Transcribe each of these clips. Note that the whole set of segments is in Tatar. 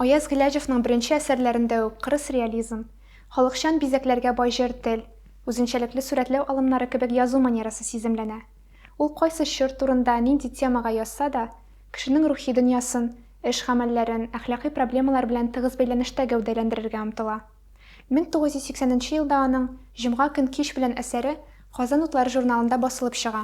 Аяз Гыйләҗевның беренче әсәрләрендә үк кырыс реализм, халыкчан бизәкләргә бай җыр тел, үзенчәлекле сурәтләү алымнары кебек язу манерасы сиземләнә. Ул кайсы чор турында, нинди темага язса да, кешенең рухи дөньясын, эш-гамәлләрен, әхлакый проблемалар белән тыгыз бәйләнештә гәүдәләндерергә омтыла. 1980 нче елда аның Җомга көн кич белән әсәре Казан утлары журналында басылып чыга.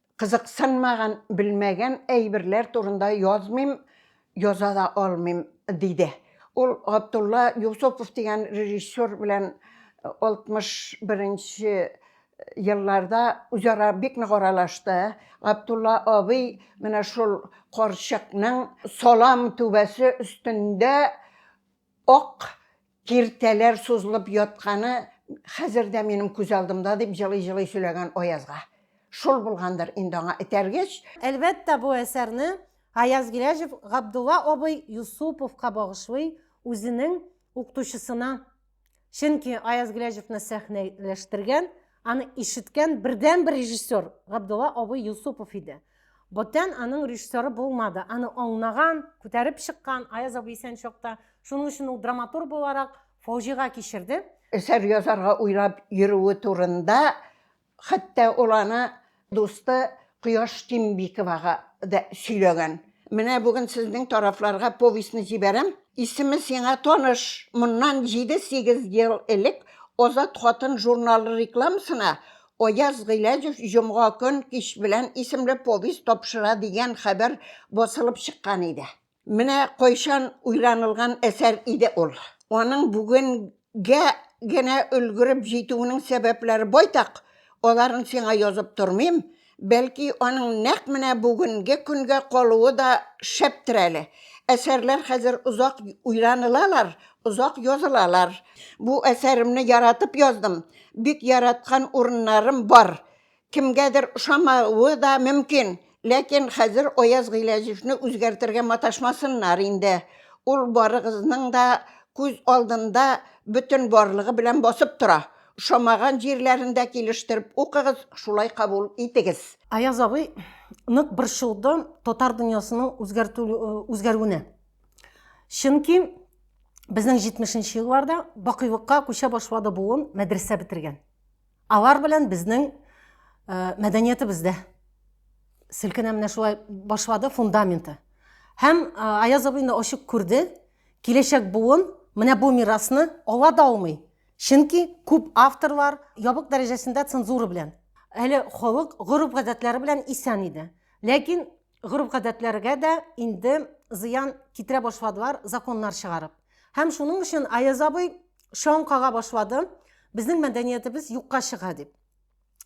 Кызыксынмаган, белмәгән әйберләр турында язмыйм, яза да алмыйм, диде. Ул Габдулла Юсупов дигән режиссер белән 61 нче елларда үзара бик нык аралашты. Габдулла абый менә шул карчыкның салам түбәсе өстендә Ак киртәләр сузылып ятканы хәзер дә минем күз алдымда, дип җылый-җылый сөйләгән Аязга. Шул булгандыр инде аңа этәргеч. Әлбәттә, бу әсәрне Аяз Гиләҗев Габдулла абый Юсуповка багышлый, үзенең укытучысына. Чөнки Аяз Гөләҗевны сәхнәләштергән, аны ишеткән бердәнбер режиссер Габдулла абый Юсупов иде. Бүтән аның режиссеры булмады. Аны аңнаган, күтәреп чыккан Аяз абый исән чакта. Шуның өчен ул драматург буларак фаҗига кичерде. Әсәр язарга уйлап йөрүе турында Хәтта ул аны дусты Кояш Тимбиковага да сөйләгән. Менә бүген сезнең тарафларга повестьны җибәрәм. Исеме сиңа таныш. Моннан җиде-сигез ел элек Азат хатын журналы рекламасына Аяз Гыйләҗев Җомга көн кич белән исемле повесть тапшыра дигән хәбәр басылып чыккан иде. Менә кайчан уйланылган әсәр иде ул. Аның бүгенгә генә өлгереп җитүенең сәбәпләре байтак, аларын сиңа язып тормыйм, бәлки аның нәкъ менә бүгенге көнгә калуы да шәптер әле. Әсәрләр хәзер озак уйланылалар, озак язылалар. Бу әсәремне яратып яздым, бик яраткан урыннарым бар, Кемгәдер ошамавы да мөмкин, ләкин хәзер Аяз Гыйләҗевне үзгәртергә маташмасыннар инде. Ул барыгызның да күз алдында бөтен барлыгы белән басып тора. Ошамаган җирләрен дә килештереп укыгыз, шулай кабул итегез. Аяз абый нык борчылды татар дөньясының үзгәрүенә. Чөнки безнең 70 нче елларда бакыйлыкка күчә башлады буын мәдрәсә бетергән. Алар белән безнең э, мәдәниятебез дә селкенә менә шулай башлады фундаменты. Һәм э, Аяз абый инде ачык күрде, киләчәк буын менә бу мирасны ала да алмый. Чөнки күп авторлар ябык дәрәҗәсендә цензура белән, әле халык гореф-гадәтләре белән исән иде. Ләкин гореф-гадәтләргә дә инде зыян китерә башладылар законнар чыгарып. Һәм шуның өчен Аяз абый шаң кага башлады, безнең мәдәниятебез юкка чыга дип.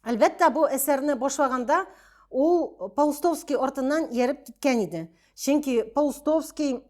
Әлбәттә, бу әсәрне башлаганда ул Паустовский артыннан ияреп киткән иде. Чөнки Паустовский,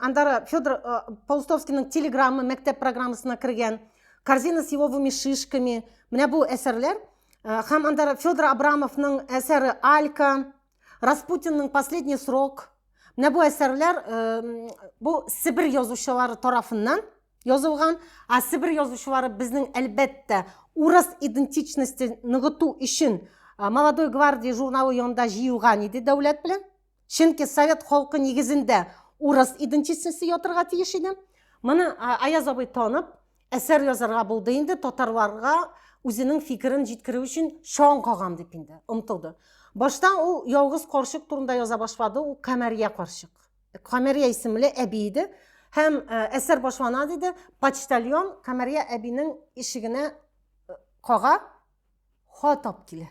андары Федор э, Паустовскийның телеграммы мәктәп программасына кергән, корзина с еловыми шишками, менә бу әсәрләр, э, һәм андары Федор Абрамовның әсәре Алька, Распутинның последний срок. Менә бу әсәрләр э, бу Себер язучылары тарафыннан язылган. Ә Себер язучылары безнең әлбәттә урыс идентичностен ныгыту өчен э, Молодой гвардия журналы янында җыелган иде дәүләт белән. Чөнки совет халкы нигезендә урыс идентичносте ятырга тиеш иде. Моны Аяз абый танып, Әсәр язарга булды инде, татарларга үзенең фикерен җиткерү өчен чаң кагам дип инде омтылды. Башта ул ялгыз карчык турында яза башлады, ул Камәрия карчык. Камәрия исемле әби иде һәм э, әсәр башлана диде, почтальон Камәрия әбинең ишегенә э, кага хат алып килә.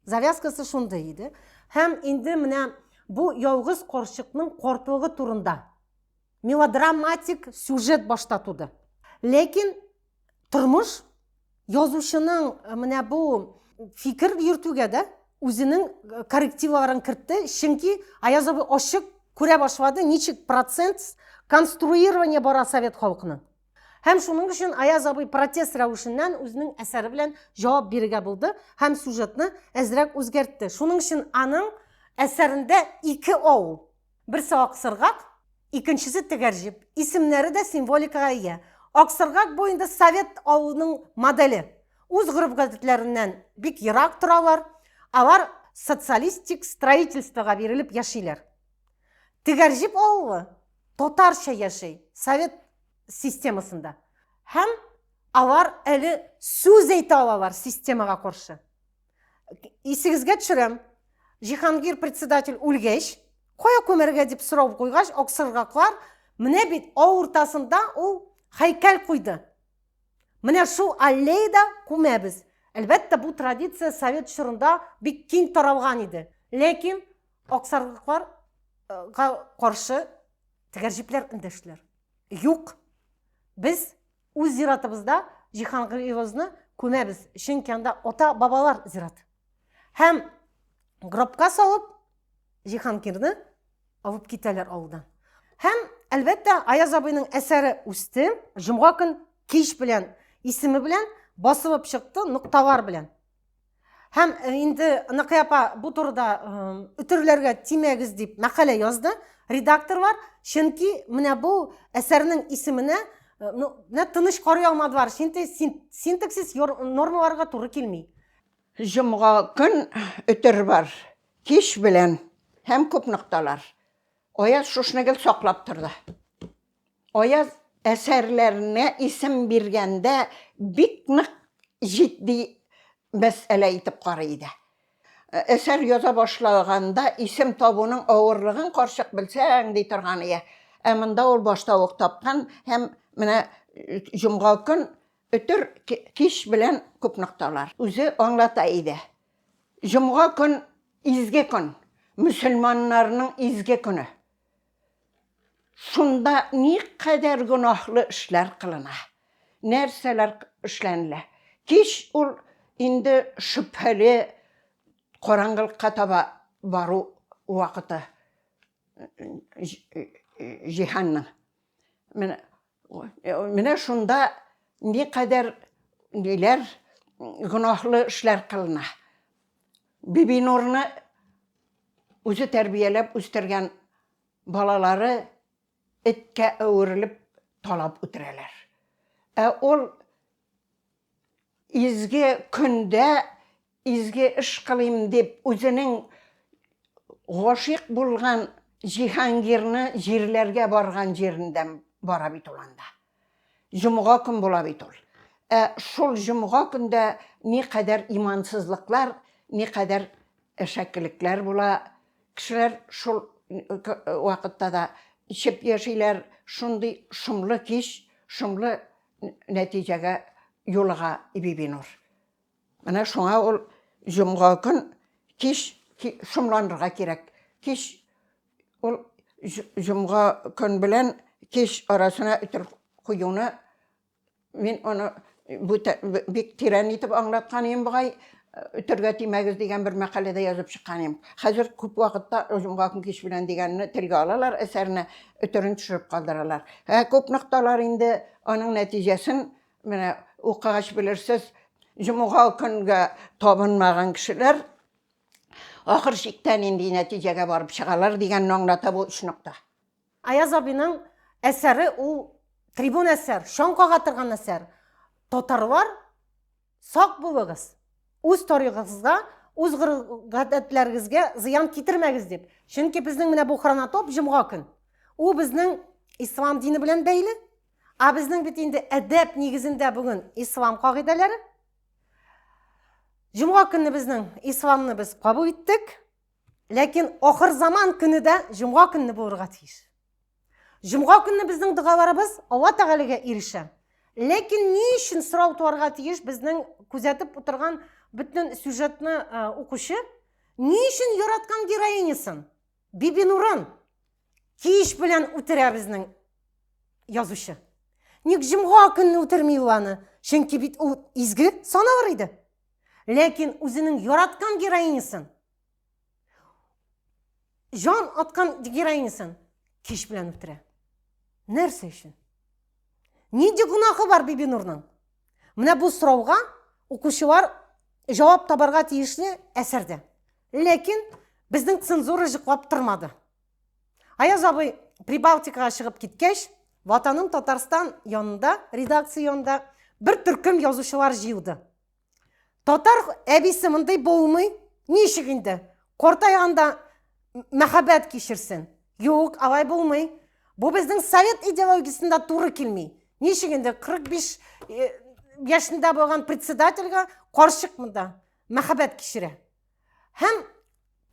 Завязкасы шундый иде. Һәм инде менә бу ялгыз карчыкның кортлыгы турында Мелодраматик сюжет башта туды. Ләкин тормыш язучының э, менә бу фикер йөртүгә дә үзенең э, коррективларын кертте, чөнки Аяз абый ачык күрә башлады, ничек процент конструирование бара совет халкының. Һәм шуның өчен Аяз абый протест рәвешеннән үзенең әсәре белән җавап бирергә булды һәм сюжетны әзрәк үзгәртте. Шуның өчен аның әсәрендә ике авыл Берсе аксыргак, икенчесе тегәрҗеп. Исемнәре дә символикага ия. Аксыргак бу инде совет авылының моделе. Үз гореф-гадәтләреннән бик ерак торалар. Алар социалистик строительствога бирелеп яшиләр. Тегәрҗеп авылы татарча яши, совет системасында. Һәм алар әле сүз әйтә алалар системага каршы. Исегезгә төшерәм, Җиһангир председатель үлгәч, кая күмәргә дип сорау куйгач, аксыргаклар, менә бит авыртасында ул һәйкәл куйды. Менә шул аллеяда күмәбез. Әлбәттә, бу традиция совет чорында бик киң таралган иде. Ләкин аксаргыкларга каршы тегәрҗипләр эндәштеләр. Юк, без Үз зиратыбызда Җиһангыйыбызны күмәбез, чөнки анда ата-бабалар зират. Һәм гробка салып Җиһангирне алып китәләр авылдан. Һәм, әлбәттә, Аяз абыйның әсәре үсте, җомга көн кич белән исеме белән басылып чыкты нокталар белән. Һәм э, инде Ныкыя апа бу турыда үтерләргә э, тимәгез дип мәкалә язды редакторлар, чөнки менә бу әсәрнең исеменә э, ну, менә тыныч карый алмадылар, чөнки синтаксис нормаларга туры килми. Җомга көн үтер бар, кич белән һәм күп нокталар. Аяз шушны гел саклап торды. Аяз әсәрләренә исем биргәндә бик нык җитди мәсьәлә итеп карый иде. Әсәр яза башлаганда исем табуның авырлыгын карчык белсәң ди торган ия. Ә монда ул башта ук тапкан һәм менә җомга көн өтер кич белән күп нокталар. Үзе аңлата иде. Җомга көн изге көн, мөселманнарның изге көне. Шунда никадәр гөнаһлы эшләр кылына, нәрсәләр эшләнелә. Кич ул инде шөбһәле караңгылыкка таба бару вакыты җиһанның. Менә Менә шунда никадәр ниләр гөнаһлы эшләр кылына. Бибинурны үзе тәрбияләп үстергән балалары эткә әверелеп талап үтерәләр. Ә ул Изге көндә изге эш кылыйм дип үзенең гашыйк булган Җиһангирны җирләргә барган җирендә бара бит ул анда. Җомга көн була бит ул. Ә шул җомга көндә никадәр имансызлыклар, никадәр әшәкелекләр була. Кешеләр шул вакытта да эчеп яшиләр, шундый шомлы кич, шомлы нәтиҗәгә юлыга Бибинур. Менә шуңа ул җомга көн кич шомланырга кирәк. Кич ул җомга көн белән кич арасына өтер куюны мин аны бик тирән итеп аңлаткан идем бугай, Өтәргә тимәгез дигән бер мәкаләдә язып чыккан идем. Хәзер күп вакытта Оҗымга көн кич белән дигәнне телгә алалар, әсәрне өтерен төшереп калдыралар. Ә күп нокталар инде аның нәтиҗәсен менә укыгач белерсез, җомга көнгә табынмаган кешеләр ахыр чиктә нинди нәтиҗәгә барып чыгалар дигәнне аңлата бу өч нокта. Аяз абиның әсәре ул трибун әсәр, чаң кага торган әсәр. Татарлар, сак булыгыз, үз тарихыгызга, үз гадәтләрегезгә зыян китермәгез дип. Чөнки безнең менә бу хронотоп җомга көн. Ул безнең ислам дине белән бәйле. Ә безнең бит инде әдәп нигезендә бүген ислам кагыйдәләре. Җомга көнне безнең исламны без кабул иттек. Ләкин ахыр заман көне дә җомга көнне булырга тиеш. Җомга көнне безнең догаларыбыз Алла Тәгаләгә ирешә. Ләкин ни өчен сорау туарга тиеш безнең күзәтеп утырган бөтен сюжетны э, укучы? Ни өчен яраткан героинясын? Биби Нурын кич белән үтерә безнең язучы. Ник җомга көнне үтерми ул аны? Чөнки бит ул изге саналыр иде. Ләкин үзенең яраткан героинясын, жан аткан героинясын кеш белән үтерә. Нәрсә өчен? Нинди гөнаһы бар Бибинурның? Менә бу сорауга укучылар жауап табарга тиешле әсәрдә. Ләкин безнең цензура жыклап тормады. Аяз абый Прибалтикага чыгып киткәч, ватаным Татарстан янында, редакция янында бер төркем язучылар җыелды. Татар әбисе мондый булмый, ничек инде? Картайганда мәхәббәт кичерсен. Юк, алай булмый. Бу безнең совет идеологиясендә туры килми. Ничек инде 45 э, яшендә булган председательгә карчык монда мәхәббәт кичерә. Һәм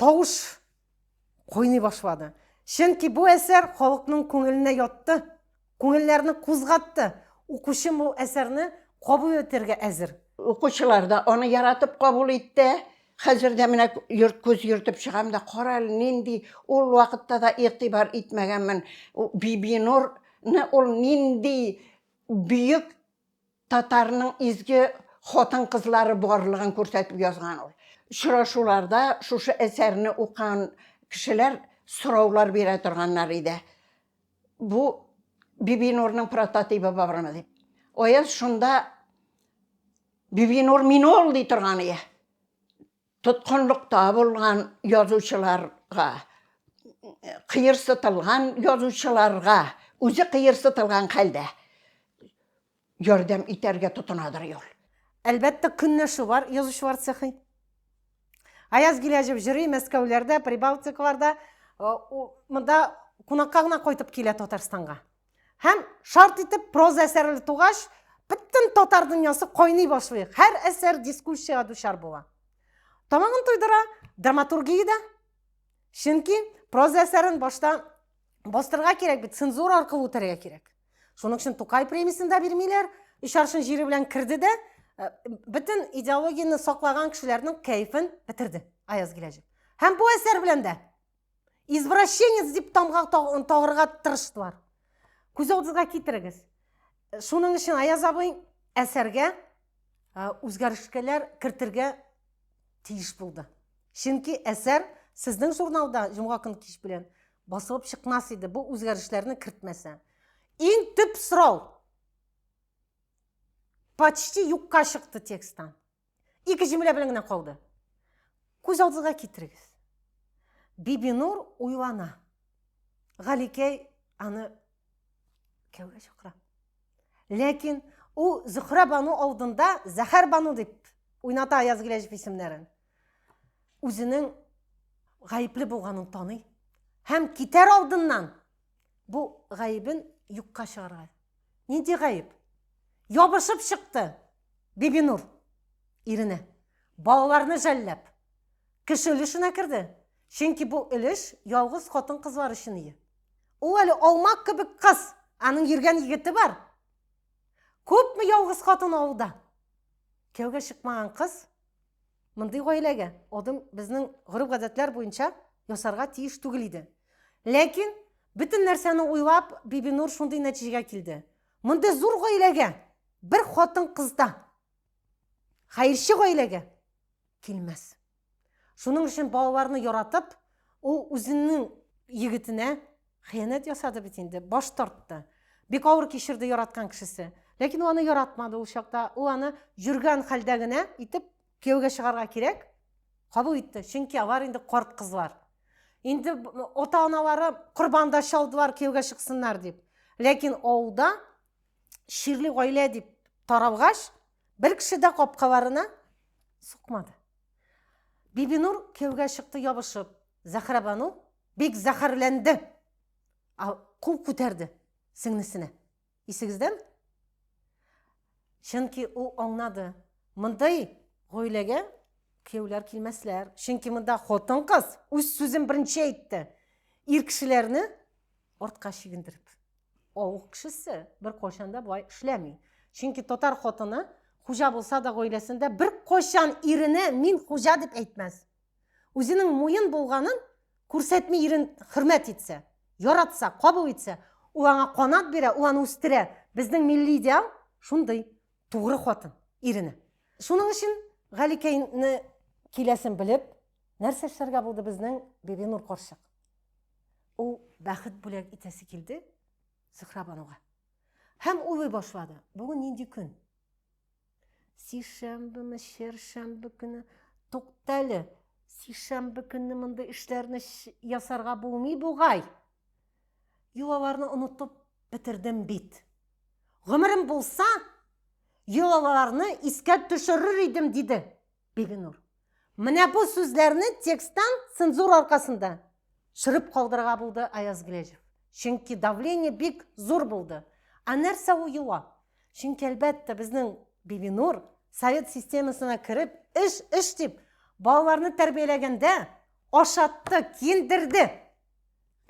тавыш Куйный башлады. Чөнки бу әсәр халыкның күңеленә ятты, күңелләрне кузгатты. Укучым бу әсәрне кабул итәргә әзер. Укучылар да аны яратып кабул итте. Хәзер дә менә йорт күз йөртеп чыгам да, кара әле нинди, ул вакытта да игътибар итмәгәнмен. Бибинурны ул нинди бөек Татарның изге хатын-кызлары барлыгын күрсәтеп язган ул. Очрашуларда шушы әсәрне укыган кешеләр сораулар бирә торганнар иде. Бу Бибинурның прототибы бармы дип. Аяз шунда Бибинур мин ул ди торган ие. Тоткынлыкта булган язучыларга, кыерсытылган язучыларга, үзе кыерсытылган хәлдә ярдәм итәргә тотынадыр ул. Әлбәттә, көнләшү бар язучылар цехы. Аяз Гиләҗев җыри Мәскәүләрдә, Прибалтикаларда, монда кунакка гына кайтып килә Татарстанга. Һәм шарт итеп проза әсәрле тугач, бөтен татар дөньясы кайный башлый. Һәр әсәр дискуссиягә дучар була. Тамагын туйдыра драматургия дә. Чөнки проза әсәрен башта бастырга кирәк бит, цензура аркылы үтәргә кирәк. Шуның өчен Тукай премиясен дә бирмиләр. Өч аршын җире белән керде дә, э, бөтен идеологияне саклаган кешеләрнең кәефен бетерде Аяз Гиләҗев. Һәм бу әсәр белән дә Извращенец дип тамга тагырга тырыштылар. Күз алдыгызга китерегез. Шуның өчен Аяз абый әсәргә үзгәрешкәләр кертергә тиеш булды. Чөнки әсәр сезнең журналда җомга көн кич белән басылып чыкмас иде бу үзгәрешләрне кертмәсә. Иң төп сорау почти юкка чыкты тексттан. Ике җөмлә белән генә калды. Күз алдыгызга китерегез. Бибинур уйлана. Галикәй аны кәүгә чакыра. Ләкин ул Зөхрә бану алдында Зәхәр бану дип уйната Аяз Гиләҗев исемнәрен. Үзенең гаепле булганын таный һәм китәр алдыннан бу гаебен юкка чыгарга. Нинди гаеп? Ябышып чыкты. Бибинур, иренә, балаларны жәлләп, кеше өлешенә керде, чөнки бу өлеш ялгыз хатын-кызлар өчен ие. Ул әле алма кебек кыз, аның йөргән егете бар. Күпме ялгыз хатын авылда? Кияүгә чыкмаган кыз мондый гаиләгә адым безнең гореф-гадәтләр буенча ясарга тиеш түгел иде. Ләкин бөтен нәрсәне уйлап, Бибинур шундый нәтиҗәгә килде. Мондый зур гаиләгә бер хатын кыз да хәерче гаиләгә килмәс. Шуның өчен балаларны яратып, ул үзенең егетенә хыянәт ясады бит инде, баш тартты. Бик авыр кичерде яраткан кешесе. Ләкин ул аны яратмады ул чакта. Ул аны җөргән хәлдә генә итеп Кияүгә чыгарга кирәк, кабул итте, чөнки алар инде карт кызлар. Инде ата-аналары корбанда чалдылар кияүгә чыксыннар дип. Ләкин авылда чирле гаилә дип таралгач, бер кеше дә капкаларына сукмады. Бибинур кияүгә чыкты ябышып. Зәхрәбану бик зәхәрләнде. Кул күтәрде сеңлесенә. Исегездән? Чөнки ул аңнады. Мондый гаиләгә кияүләр килмәсләр. Чөнки монда хатын-кыз үз сүзен беренче әйтте. Ир кешеләрне артка чигендереп. Авыл кешесе бер кайчан да болай эшләми. Чөнки татар хатыны хуҗа булса да гаиләсендә бер кайчан иренә мин хуҗа дип әйтмәс. Үзенең муен булганын күрсәтми ирен хөрмәт итсә, яратса, кабул итсә, ул аңа канат бирә, ул аны үстерә. Безнең милли идеал шундый тугры хатын ирене. Шуның өчен Галикәйне киләсен белеп, нәрсә эшләргә булды безнең Бибинур карчык? Ул бәхет бүләк итәсе килде Зөһрә бануга. Һәм уйлый башлады, бүген нинди көн? Сишәмбеме, шершәмбе көне? Тукта әле. Сишәмбе көнне мондый эшләрне ясарга булмый бугай. Йолаларны онытып бетердем бит. Гомерем булса, йолаларны искә төшерер идем, диде. Бибинур. Менә бу сүзләрне тексттан цензура аркасында чырып калдырырга булды Аяз Гиләҗев. Чөнки давление бик зур булды. Ә нәрсә ул юа? Чөнки әлбәттә безнең Бибинур совет системасына кереп, эш, эш дип, балаларны тәрбияләгәндә ашатты, киендерде.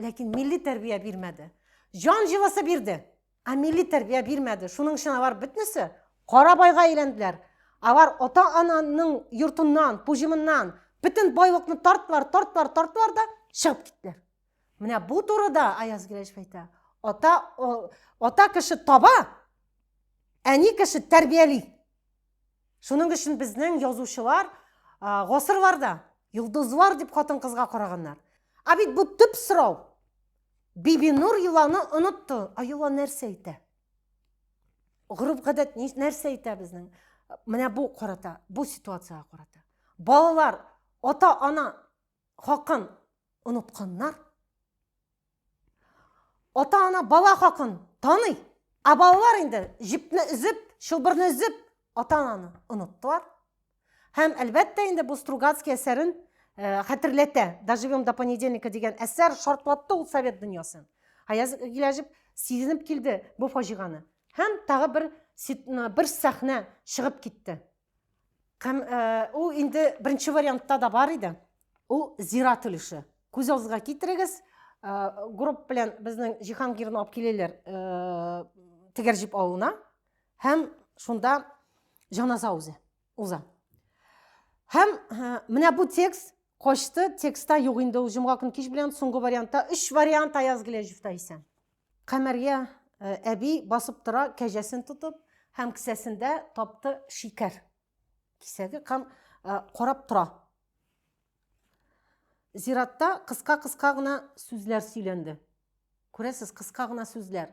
Ләкин милли тәрбия бирмәде. Җан җылысы бирде. Ә милли тәрбия бирмәде. Шуның өчен алар бөтнесе кара байга әйләнделәр. Алар ата-ананың йортыннан, пуҗымыннан бөтен байлыкны тарттылар, тарттылар, тарттылар да чыгып киттеләр. Менә бу турыда Аяз Гиләҗев әйтә. Ата о, ата кеше таба, әни кеше тәрбияли. Шуның өчен безнең язучылар гасырларда йолдызлар дип хатын-кызга караганнар. Ә бит бу төп сорау. Бибинур йоланы онытты. А йола нәрсә әйтә? Гореф-гадәт нәрсә әйтә безнең? Менә бу карата, бу ситуацияга карата. Балалар ата-ана хакын онытканнар. Ата-ана бала хакын таный, а балалар инде җепне өзеп, чылбырны өзеп, ата-ананы оныттылар. Һәм, әлбәттә, инде бу Стругацкий әсәрен э, хәтерләтә. Доживем до понедельника дигән әсәр шартлатты ул совет дөньясын. Аяз Гиләҗев сизенеп килде бу фаҗиганы. Һәм тагы бер бер сәхнә чыгып китте. Һәм э, ул инде беренче вариантта да бар иде. Ул зират өлеше. Күз алдыгызга китерегез, э, групп белән безнең Җиһангирны алып киләләр э, тегәрҗип авылына. һәм шунда җаназа үзе уза. Һәм менә бу текст качты, текстта юк инде ул җомга көн кич белән соңгы вариантта өч вариант Аяз Гиләҗевта исә. Камәргә э, әби басып тора, кәҗәсен тотып һәм кесәсендә тапты шикәр. Кисәге һәм э, карап тора. Зиратта кыска-кыска гына сүзләр сөйләнде. Күрәсез, кыска гына сүзләр.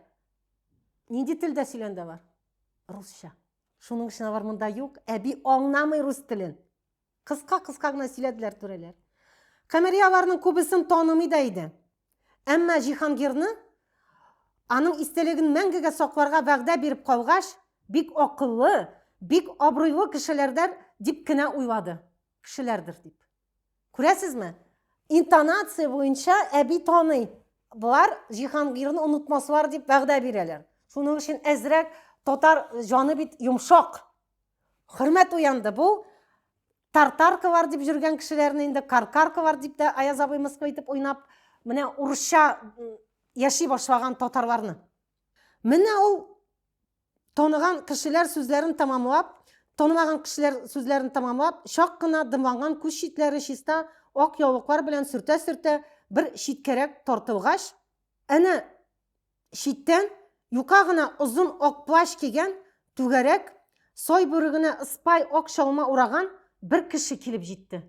Нинди телдә сөйләндә бар? Русча. Шуның өчен алар монда юк. Әби аңнамый рус телен. Кыска-кыска гына сөйләделәр түрәләр. Камери аларның күбесен танымый да иде. Әмма Җиһангирны аның истәлеген мәңгегә сакларга вәгъдә биреп калгач, бик акыллы, бик абруйлы кешеләрдәр дип кенә уйлады. Кешеләрдер дип. Күрәсезме? Интонация буенча әби таный. Болар Җиһангирны онытмаслар дип вәгъдә бирәләр. Шуның өчен әзрәк татар җаны бит йомшак. Хөрмәт уянды бу. Тартаркалар дип жүргән кешеләрне инде каркаркалар дип тә Аяз абый мыскыл итеп уйнап, менә урысча яши башлаган татарларны. Менә ул Таныган кешеләр сүзләрен тамамлап, танымаган кешеләр сүзләрен тамамлап, чак кына дымланган күз читләре чиста ак яулыклар белән сөртә-сөртә бер читкәрәк тартылгач, әнә читтән юка гына озын ак плащ кигән, түгәрәк, сай бүрегенә ыспай ак чалма ураган бер кеше килеп җитте.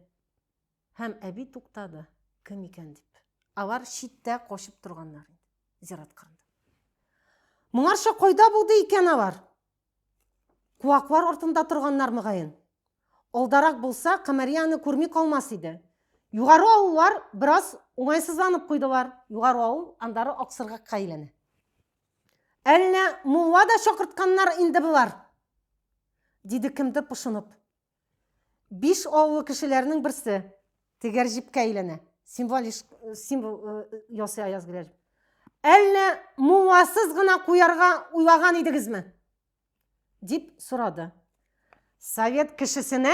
Һәм әби туктады, кем икән дип. Алар читтә качып торганнар инде, зират кырында. Моңарча кайда булды икән алар? Куаклар артында торганнар мөгаен. Алдарак булса, Камарияны күрми калмас иде. Югары авыллар бераз уңайсызланып куйдылар. Югары авыл андары Аксыргакка әйләнә. Әллә мулла да чакыртканнар инде болар? Диде кемдер пошынып. Биш авыл кешеләренең берсе тегәр җипкә әйләнә. Символ символ ясый Аяз Гөләл. Әллә мулласыз гына куярга уйлаган идегезме? дип сорады. Совет кешесенә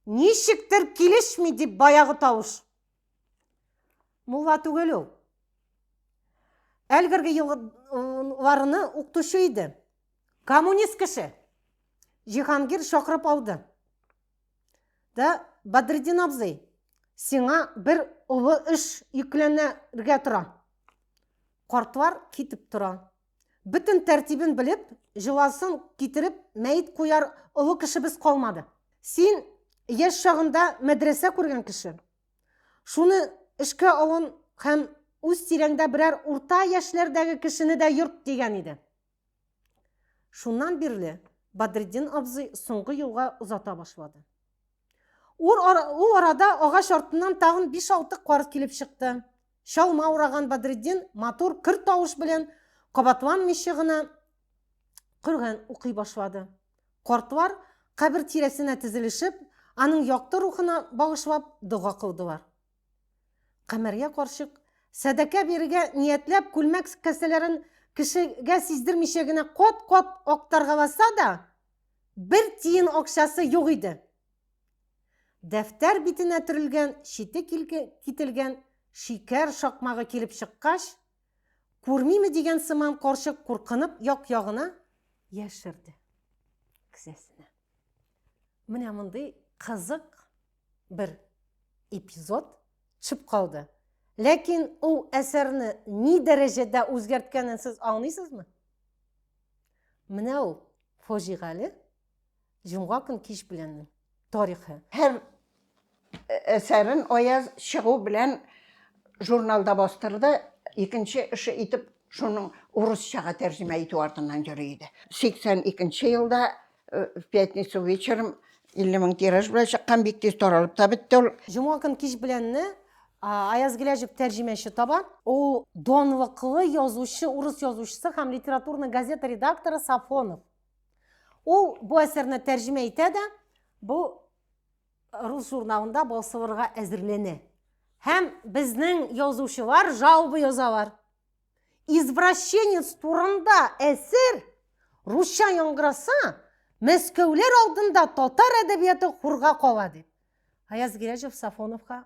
ничектер килешми дип баягы тавыш. Мулла түгел ул. Әлгерге елларны укытучы иде. Коммунист кеше. Җиһангир чакырып алды. Да Бадредин абзый, сиңа бер олы эш йөкләнергә тора. Картлар китеп тора. Бөтен тәртибен белеп, җыласын китереп, мәет куяр олы кешебез калмады. Син яшь чагында мәдрәсә күргән кеше. Шуны эшкә алын һәм үз тирәңдә берәр урта яшьләрдәге кешене дә йорт дигән иде. Шуннан бирле Бадретдин абзый соңгы юлга озата башлады. Ул арада агач артыннан тагын 5-6 карт килеп чыкты. Чалма ураган Бадретдин матур көр тавыш белән кабатланмыйча гына Коръән укый башлады. Картлар кабер тирәсенә тезелешеп, аның якты рухына багышлап дога кылдылар. Камәрия карчык, сәдакә бирергә ниятләп, күлмәк кесәләрен кешегә сиздермичә генә кат-кат актаргаласа да, бер тиен акчасы юк иде. Дәфтәр битенә төрелгән чите кителгән шикәр шакмагы килеп чыккач, күрмиме дигән сыман карчык куркынып як-ягына яшерде кесәсенә. Менә мондый кызык бер эпизод төшеп калды. Ләкин ул әсәрне ни дәрәҗәдә үзгәрткәнен сез аңлыйсызмы? Менә ул фаҗигале җомга көн кич беләннең тарихы. Һәр әсәрен Аяз чыгу белән журналда бастырды, икенче эше итеп шуның урысчага тәрҗемә итү артыннан йөри иде. 82 елда э, в пятницу вечером 50 мең тираж белән чыккан, бик тиз таралып та бетте ул. Җома көн кич беләнне Аяз Гиләҗев тәрҗемәче таба. Ул донлыклы язучы, урыс язучысы һәм литературный газета редакторы Сафонов. Ул бу әсәрне тәрҗемә итә дә, бу рус журналында басылырга әзерләнә. Һәм безнең язучылар жалоба язалар. Извращенец турында әсер русча яңгыраса, мәскәүләр алдында татар әдәбияты хурга кала дип. Аяз Гиләҗев Сафоновка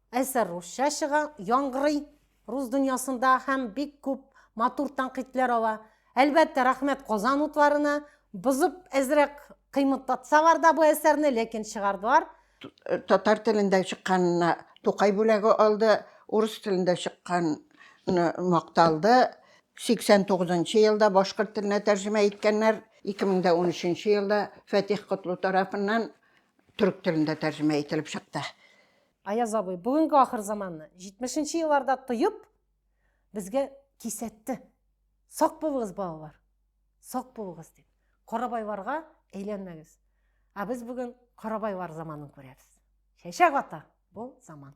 Әсәр русча чыга, яңгырый рус дөньясында һәм бик күп матур тәнкыйтьләр ала. Әлбәттә, рәхмәт Казан утларына. Бозып әзрәк кыймматлатсалар да бу әсәрне, ләкин чыгардылар. Татар телендә чыкканына Тукай бүләге алды, урыс телендә чыккан макталды. 89 нчы елда башкорт теленә тәрҗемә иткәннәр, 2013 нчы елда Фәтих Котлу тарафыннан төрек телендә тәрҗемә ителеп чыкты. Аяз абый, бүгенге ахыр заманны 70 нче елларда тоеп, безгә кисәтте. Сак булыгыз, балалар. Сак булыгыз дип. Карабайларга әйләнмәгез. Ә без бүген карабайлар заманын күрәбез. Чәчәк ата бу заман.